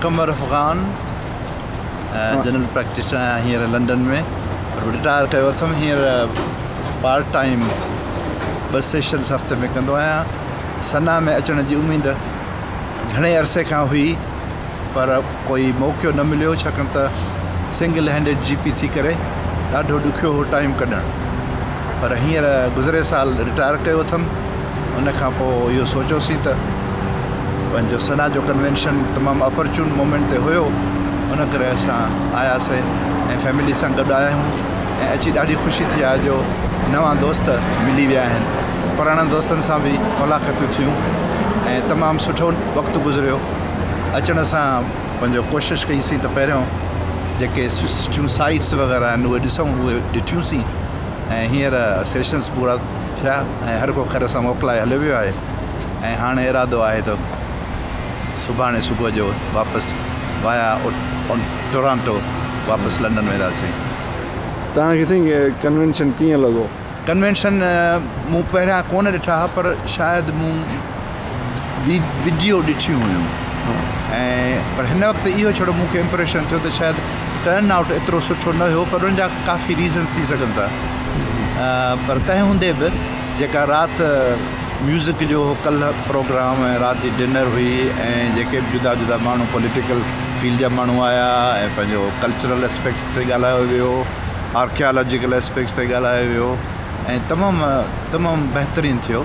Qamar Afghan general practitioner آهيان هينئر London ۾ retire ڪيو اٿم هينئر پارٽ ٽائيم ٻه سيشنس هفتي ۾ ڪندو آهيان سنا ۾ اچڻ جي اميد گهڻي عرصي کان هئي پر ڪوئي موقعو نه مليو ڇاڪاڻ ته سنگل هينڊيڊ جي پي ٿي ڪري ڏاڍو ڏکيو هو ٽائيم ڪڍڻ پر هينئر گذري سال رٽائر ڪيو اٿم ان کان پوء اهو سوچيوسين ته پنهنجو سنا جو ڪنوينشن تمام اپرچون مومينٽ تي هيو ان ڪري اسان آياسين ۽ فيملي سان گڏ آيا آهيون ۽ اچي ڏاڍي خوشي ٿي آهي جو نوان دوست ملي ويا آهن پراڻن دوستن سان به ملاقاتون ٿيون ۽ تمام سٺو وقت گذريو اچڻ سان پنهنجو ڪوشش ڪئي سين ته پهريون جيڪي سٺيون سائيٽس وغيره آهن اهي ڏسون اهي ڏٺيون سين ۽ هينئر سيشنس پورا ٿيا ۽ هر ڪو خير سان موڪلائي هليو ويو آهي ۽ هاڻي ارادو آهي ته سڀاڻي صبح جو واپس وايا ٽورانٽو واپس لنڊن وينداسين. توهان کي سائين ڪنوينشن ڪيئن لڳو؟ ڪنوينشن مون پهريان ڪونه ڏٺا هئا پر شايد مون ويڊيو ڏٺيون هيون ۽ پر هن وقت اهو ڇڙو مون کي امپريشن ٿيو ته شايد ٽرن آئوٽ ايترو سٺو نه هيو پر ان جا ڪافي ريزنس ٿي سگهن ٿا پر تنهن هوندي به جيڪا رات ميوزڪ جو ڪلهه پروگرام ۽ رات جي ڊنر هئي ۽ جيڪي به جدا جدا ماڻهو پوليٽيڪل فيلڊ جا ماڻهو آيا ۽ پنهنجو ڪلچرل اسپيڪٽ تي ڳالهايو ويو آرڪيالاجيڪل اسپيڪٽ تي ڳالهايو ويو ۽ تمام تمام بهترين ٿيو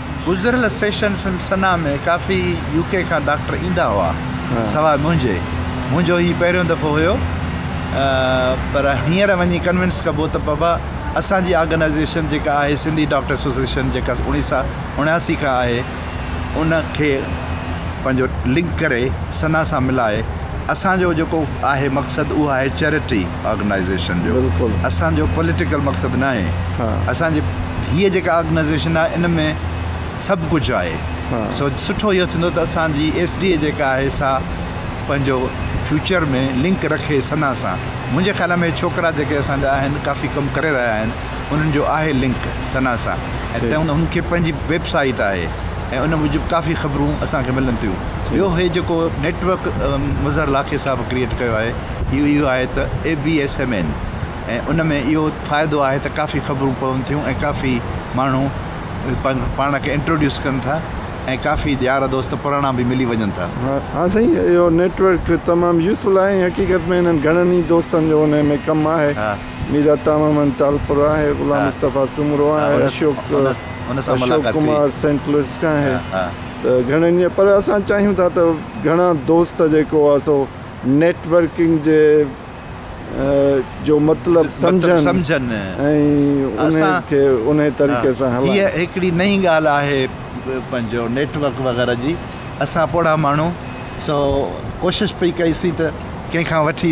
گذريل سيشن سنا ۾ ڪافي يو ڪي کان ڊاڪٽر ايندا هئا سواء منهنجي منهنجو هي پهريون دفعو هيو پر هينئر وڃي ڪنوينس ڪبو ته بابا اسان جي آرگنائزيشن جيڪا آهي سنڌي ڊاڪٽر ايسوسيشن جيڪا اوڻيهه سا اڻياسي کان آهي ان کي پنهنجو لنڪ ڪري سنا سان ملائي اسان جو جيڪو آهي مقصد اهو آهي چئرٽي آرگنائيزيشن جو اسان جو پوليٽيڪل مقصد ناهي اسان جي هيء جيڪا آرگنائيزيشن آهي ان ۾ سڀ ڪجهه آهي سو سٺو اهو ٿيندو ته اسان جي ايس ڊي اي جيڪا آهي سا پنهنجو فيوچر ۾ لنڪ رکي سنا سان منهنجي خيال ۾ ڇوڪرا جيڪي اسان جا آهن ڪافي ڪم ڪري رهيا آهن انهن جو آهي لنڪ سنا سان ۽ تنهن هن کي پنهنجي ويب سائيٽ آهي ۽ ان موجب ڪافي خبرون اسان کي ملن ٿيون ٻيو هي جيڪو نيٽ ورڪ مظهر لاکي صاحب ڪريئيٽ ڪيو آهي اهو اهو آهي ته A B S M N ۽ ان ۾ اهو فائدو آهي ته ڪافي خبرون پون ٿيون ۽ ڪافي ماڻهو پاڻ کي انٽروڊيوس ڪن ٿا ۽ ڪافي يار دوست پراڻا به ملي وڃن ٿا ها سائين اهو نيٽ ورڪ تمام يوزفل آهي حقيقت ۾ هنن گهڻن ئي دوستن جو ان ۾ ڪم آهي مير عطا محمد ٽالپر آهي، غلام مصطفيٰ سومرو آهي، اشوڪ ڪمار سينٽ لوئيس کان آهي ته گهڻن ئي پر اسان چاهيون ٿا ته گهڻا دوست جيڪو آهي سو نيٽ ورڪنگ جي جو مطلب سمجهن ۽ ان کي ان طريقي سان هلائن. هيء هڪڙي نئين ڳالهه آهي پنهنجو نيٽ ورڪ وغيره جي اسان پوڙها ماڻهو سو ڪوشش پئي ڪئي سين ته ڪنهن کان وٺي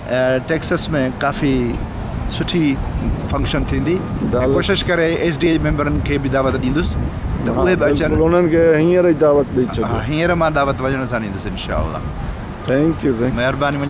ٽيڪساس ۾ ڪافي سٺي فنڪشن ٿيندي ۽ ڪوشش ڪري ايس ڊي اي ميمبرن کي به دعوت ڏيندس ته اهي به اچن. بلڪل انهن کي هينئر ئي دعوت ڏئي ڇڏيو. ها هينئر مان دعوت وڃڻ سان ڏيندس انشاء الله. Thank you thank you. مهرباني.